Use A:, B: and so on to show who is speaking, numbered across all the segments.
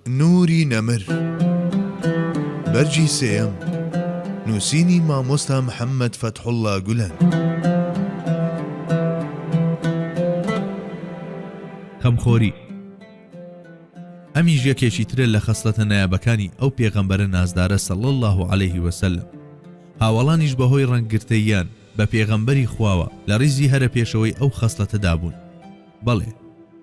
A: نوری نەمر، بەرگی سێیەم، نووسینی مامۆستا محەممەد فەتحوڵڵا گولەن.
B: خەمخۆری، ئەمیش یەکێکی ترە لە خەسڵەتە نایابەکانی ئەو پێغەمبەرە نازدارە صلی اللە علیه و سلم، هاوەڵانیش بەهۆی ڕەنگگرتەییان بە پێغەمبەری خواوە لە ڕیزی هەرە پێشەوەی ئەو خەسڵەتەدا بوون. بەڵێ،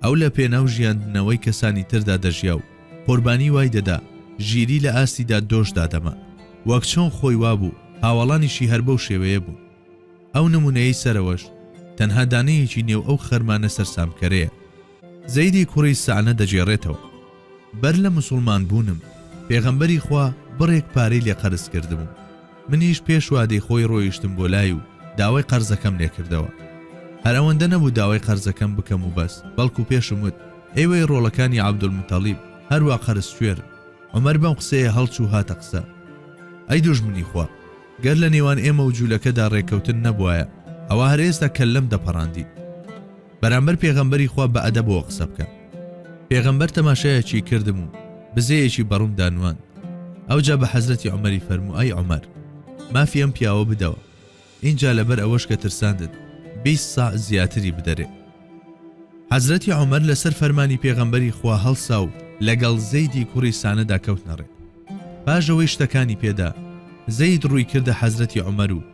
B: ئەو لە پێناو ژیاندنەوەی کەسانی تردا دەژیا و قوربانی وای دەدا ژیری لە ئاستیدا دۆش دادەما. وەک چۆن خۆی وابوو، هاوەڵانیشی هەر بەو شێوەیە بوون. ئەو نموونەیەی سەرەوەش تەنها دانەیەکی نێو ئەو خەرمانە سەرسامکەرەیە. زەیدی کوڕی سەعنە دەگێڕێتەوە. بەر لە موسوڵمان بوونم پێغەمبەری خوا بڕێک پارەی لێ قەرز کردبووم منیش پێش وادەی خۆی ڕۆیشتم بۆ لای و داوای قەرزەکەم لێ کردەوە هەر ئەوەندە نەبوو داوای قەرزەکەم بکەم و بەس بەڵکو پێشم وت ئێوەی ڕۆڵەکانی عەبدولموتەڵیب هەر وا قەرز کوێرن عومەر بەم قسەیە هەڵچوو هاتە قسە ئەی دوژمنی خوا گەر لە نێوان ئێمە و جوولەکەدا ڕێککەوتن نەبوایە ئەوا هەر ئێستا کەللەم دەپەڕاندیت. بەرامبەر پێغەمبەری خوا بە ئەدەبەوە قسە بکە. پێغەمبەر تەماشایەکی کردم و بزەیەکی بەڕومدا نواند. ئەوجا بە حەزرەتی عومەری فەرموو ئەی عومەر! مافی ئەم پیاوە بدەوە. ئینجا لەبەر ئەوەش کە ترساندت بیست ساع زیاتری بدەرێ. حەزرەتی عومەر لەسەر فەرمانی پێغەمبەری خوا هەڵسا و لەگەڵ زەیدی کوڕی سانەدا کەوتنە ڕێ. پاش ئەوەی شتەکانی پێدا، زەید ڕووی کردە حەزرەتی عومەر و،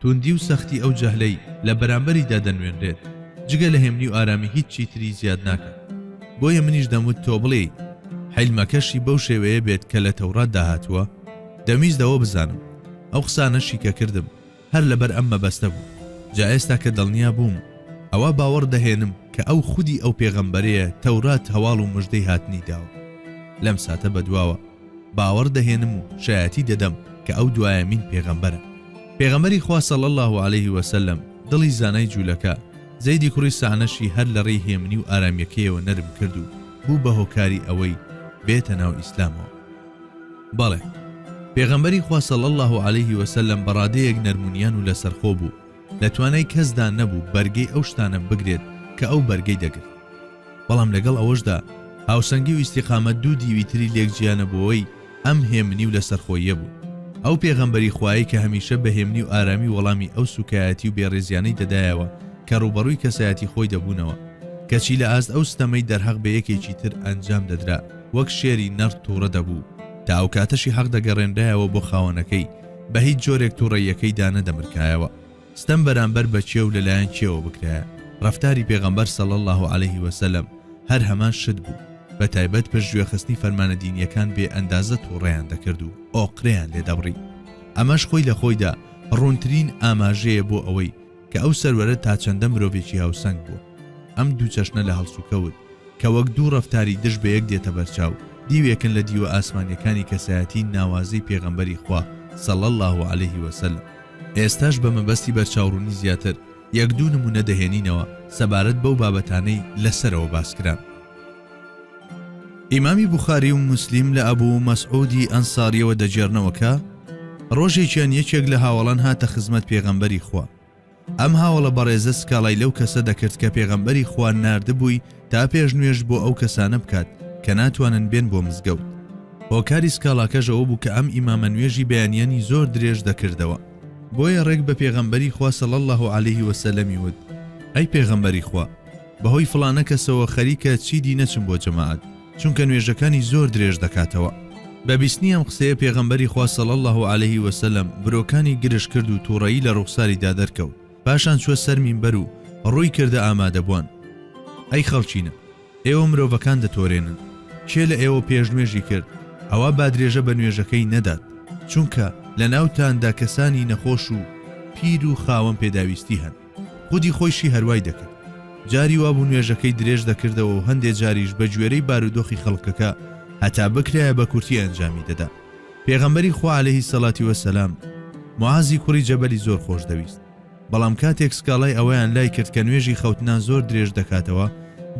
B: توندی و سەختی ئەو جەهلەی لە بەرامبەریدا دەنوێنرێت جگە لە هێمنی و ئارامی هیچ چیتری زیاد ناکات بۆیە منیش دەموت تۆ بڵێیت حیلمەکەشی بەو شێوەیە بێت کە لە تەوراتدا هاتووە دەمویست ئەوە بزانم ئەو قسانەشی کە کردم هەر لەبەر ئەم مەبەستە بوو جا ئێستا کە دڵنیا بووم ئەوا باوەڕ دەهێنم کە ئەو خودی ئەو پێغەمبەرەیە تەورات هەواڵ و مژدەی هاتنی داوە لەم ساتە بەدواوە باوەڕ دەهێنم و شایەتی دەدەم کە ئەو دوایەمین پێغەمبەرە. پێغەمبەری خوا صلی اللە علیه وسلم دڵی زانای جولەکە زەیدی کوڕی سەعنەشی هەر لەڕێی هێمنی و ئارامیەکەیەوە نەرم کرد و بوو بە هۆکاری ئەوەی بێتە ناو ئیسلامەوە. بەڵێ پێغەمبەری خوا صلی اللە علیه وسلم بەڕادەیەک نەرمونیان و لەسەرخۆ بوو، لە توانای کەسدا نەبوو بەرگەی ئەو شتانە بگرێت کە ئەو بەرگەی دەگرت بەڵام لەگەڵ ئەوەشدا هاوسەنگی و ئیسیقامە دوو دیوی تری لێک جیانەبووەوەی ئەم هێمنی و لەسەرخۆیە بوو ئەو پێغەمبەری خوایی کە هەمیشە بە هێمنی و ئارامی وەڵامی ئەو سوکایەتی و بێڕێزیانەی دەدایەوە کە ڕوبەڕووی کەسایەتی خۆی دەبوونەوە کەچی لە ئاست ئەو ستەمەی دەرهەق بە یەکێکی تر ئەنجام دەدرا وەک شێری نەڕ تووڕە دەبوو تا ئەو کاتەشی حەق دەگەڕێنرایەوە بۆ خاوەنەکەی بە هیچ جۆرێک توڕەیەکەی دا نەدەمرکایەوە ستەم بەرامبەر بە کێ و لەلایەن کێوە بکرایە ڕەفتاری پێغەمبەر صلی اللە علیه وسلم هەر هەمان شت بوو بە تایبەت پشت گوێخستنی فەرمانە دینیەکان بێ ئەندازە توڕەیان دەکرد و ئۆقرەیان لێ دەبڕی ئەمەش خۆی لە خۆیدا ڕوونترین ئاماژەیە بۆ ئەوەی کە ئەو سەروەرە تا چەندە مرۆڤێکی هاوسەنگ بووە. ئەم دوو چەشنە لە هەڵسوکەوت، کە وەک دوو ڕەفتاری دژ بە یەک دێتە بەرچاو، دیوێکن لە دیوە ئاسمانییەکانی کەسایەتیی ناوازەی پێغەمبەری خوا صلی اللە علیه و سلم. ئێستاش بە مەبەستی بەرچاوڕوونی زیاتر، یەک دوو نموونە دەهێنینەوە سەبارەت بەو بابەتانەی لە سەرەوە باس کران. ئیمامی بوخاری و موسلیم لە ئەبوو مەسعودی ئەنساریەوە دەگێرنەوە کە، ڕۆژێکیان یەکێک لە هاوەڵان هاتە خزمەت پێغەمبەری خوا. ئەم هاوەڵە بەڕێزە سکاڵای لەو کەسە دەکرد کە پێغەمبەری خوا ناردبووی تا پێش نوێژ بۆ ئەو کەسانە بکات کە ناتوانن بێن بۆ مزگەوت. هۆکاری سکاڵاکەش ئەوە بوو کە ئەم ئیمامە نوێژی بەیانیانی زۆر درێژ دەکردەوە. بۆیە ڕێک بە پێغەمبەری خوا صلی اللە علیه وسلم ی وت، ئەی پێغەمبەری خوا! بەهۆی فڵانە کەسەوە خەریکە چیدی نەچم بۆ جەماعەت چونکە نوێژەکانی زۆر درێژ دەکاتەوە. بە بیستنی ئەم قسەیە پێغەمبەری خوا صلی اللە علیه وسلم برۆکانی گرژ کرد و توڕەیی لە ڕوخساریدا دەرکەوت پاشان چوە سەر مینبەر و ڕووی کردە ئامادەبوان ئەی خەڵکینە ئێوە مرۆڤەکان دەتۆرێنن کێ لە ئێوە پێش نوێژی کرد ئەوا بادرێژە بە نوێژەکەی نەدات چونکە لە ناوتاندا کەسانی نەخۆش و پیر و خاوەن پێداویستی هەن. خودی خۆیشی هەروای دەکرد. جاری وابوو نوێژەکەی درێژ دەکردەوە و هەندێ جاریش بە گوێرەی بارودۆخی خەڵکەکە هەتا بکرایە بە کورتی ئەنجامی دەدا. پێغەمبەری خوا عەلەیهی سەڵاتی وەسەلام معازی کوڕی جەبەلی زۆر خۆش دەویست. بەڵام کاتێک سکاڵای ئەوەیان لای کرد کە نوێژی خەوتنان زۆر درێژ دەکاتەوە،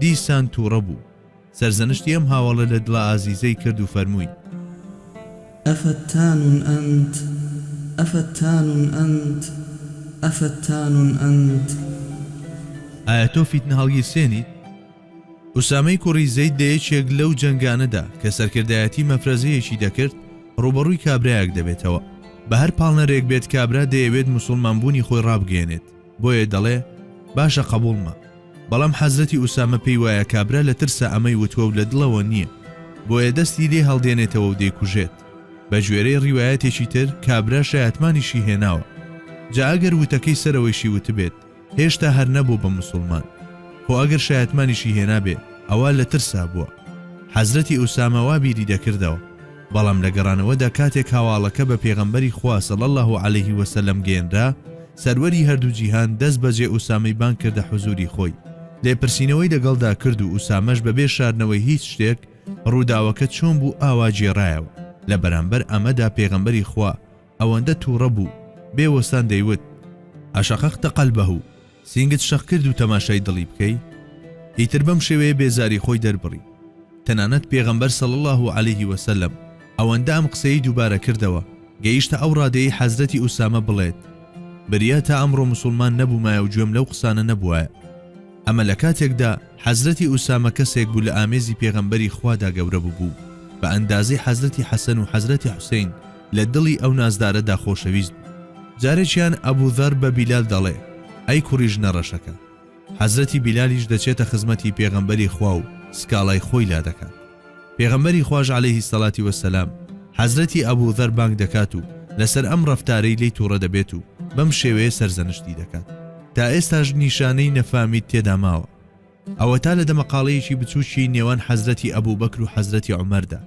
B: دیسان تووڕە بوو. سەرزەنشتی ئەم هاوەڵە لە دڵە ئازیزەی کرد و فەرمووی. ئەفەتان
C: ئەنت؟ ئەفەتان ئەنت؟ ئەفەتان ئەنت؟
B: ئایا تۆ فیتنە هەڵگیرسێنیت؟ ئوسامەی کوڕی زەید لە یەکێک لەو جەنگانەدا کە سەرکردایەتی مەفرەزەیەکی دەکرد، ڕووبەڕووی کابرایەک دەبێتەوە. بە هەر پاڵنەرێک بێت کابرا دەیەوێت موسوڵمانبوونی خۆی ڕابگەیەنێت. بۆیە دەڵێ باشە قەبووڵمە بەڵام حەزرەتی ئوسامە پێی وایە کابرا لە ترسا ئەمەی وتوە و لە دڵەوە نییە بۆیە دەستی لێ هەڵدێنێتەوە و دەیکوژێت بە گوێرەی ڕیوایەتێکی تر کابرا شەیاتمانیشی هێناوە جا ئەگەر وتەکەی سەرەوەیشی وتبێت هێشتا هەر نەبوو بە موسڵمان خۆ ئەگەر شەیاتمانیشی هێنابێ ئەوە لە ترسا بووە حەزرەتی ئوسامە وا بیری دەکردەوە بەڵام لە گەڕانەوەدا کاتێک هەواڵەکە بە پێغەمبەری خوا صلی اللە علیه وسلم گەیەنرا، سەروەری هەردوو جیهان دەست بەجێ ئوسامەی بانگ کردە حوزوری خۆی، لێپرسینەوەی لەگەڵدا کرد و ئوسامەش بەبێ شاردنەوەی هیچ شتێک ڕووداوەکە چۆن بوو ئاوا گێڕایەوە، لە بەرامبەر ئەمەدا پێغەمبەری خوا، ئەوەندە توڕە بوو بێ وەستان دەیوت، اشققت قلبه، سینگت شەق کرد و تەماشای دڵی بکەی؟ ئیتر بەم شێوەیە بێزاری خۆی دەربڕی. تەنانەت پێغەمبەر صلی اللە علیه وسلم ئەوەندە ئەم قسەی دووبارە کردەوە گەیشتە ئەو ڕادەیەی حەزرەتی ئوسامە بڵێت، بریا تا ئەمڕۆ موسوڵمان نەبوومایە و گوێم لەو قسانە نەبووایە. ئەمە لە کاتێکدا حەزرەتی ئوسامە کەسێک بوو لە ئامێزی پێغەمبەری خوادا گەورە ببوو بە ئەندازەی حەزرەتی حەسەن و حەزرەتی حوسەین، لە دڵی ئەو نازدارەدا خۆشەویست بوو. جارێکیان ئەبو زەر بە بیلال دەڵێ، ئەی کوڕی ژنە ڕەشەکە! حەزرەتی بیلالیش دەچێتە خزمەتی پێغەمبەری خوا و سکاڵای خۆی لا دەکات. پێغەمبەری خواش عەلەیهی سەڵاتی وەسەلام حەزرەتی ئەبو زەر بانگ دەکات و لەسەر ئەم ڕەفتارەی لێی توڕە دەبێت و بەم شێوەیە سەرزەنشتی دەکات. تا ئێستاش نیشانەی نەفامی تێدا ماوە. ئەوەتا لە دەمەقاڵێیەکی بچووکی نێوان حەزرەتی ئەبوبەکر و حەزرەتی عومەردا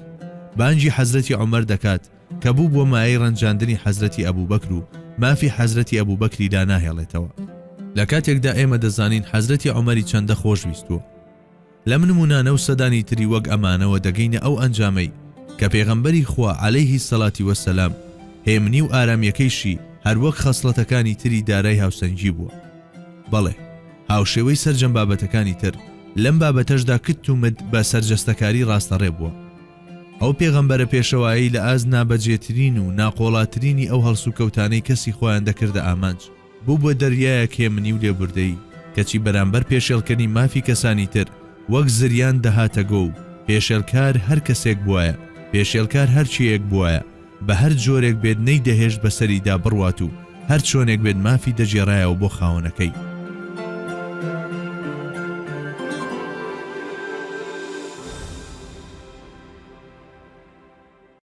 B: بانگی حەزرەتی عومەر دەکات کە بووبووە مایەی ڕەنجاندنی حەزرەتی ئەبوبەکر و مافی حەزرەتی ئەبوبەکری داناهێڵێتەوە لە کاتێکدا ئێمە دەزانین حەزرەتی عومەری چەندە خۆشویستووە. لەم نموونانە و سەدانی تری وەک ئەمانەوە دەگەینە ئەو ئەنجامەی کە پێغەمبەری خوا عەلەیهی سەلاتی وەسەلام هێمنی و ئارامییەکەیشی هەروەک خەسڵەتەکانی تری دارای هاوسەنگی بووە. بەڵێ. هاوشێوەی سەرجەم بابەتەکانی تر، لەم بابەتەشدا کت و مت بە سەرجەستەکاری ڕاستەڕێ بووە. ئەو پێغەمبەرە پێشەوایەی لە ئاست نابەجێترین و ناقۆڵاترینی ئەو هەڵسوکەوتانەی کەسی خۆیان دەکردە ئامانج، بوو بە دەریایەک هێمنی و لێبوردەیی، کەچی بەرامبەر پێشێڵکەری مافی کەسانی تر، وەک زریان دەهاتە گۆ و پێشێلکار هەر کەسێک بووایە، پێشێلکار هەر چێیەک بووایە، بە هەر جۆرێک بێت نەیدەهێشت بەسەریدا بڕوات و هەر چۆنێک بێت مافی دەگێڕایەوە بۆ خاوەنەکەی.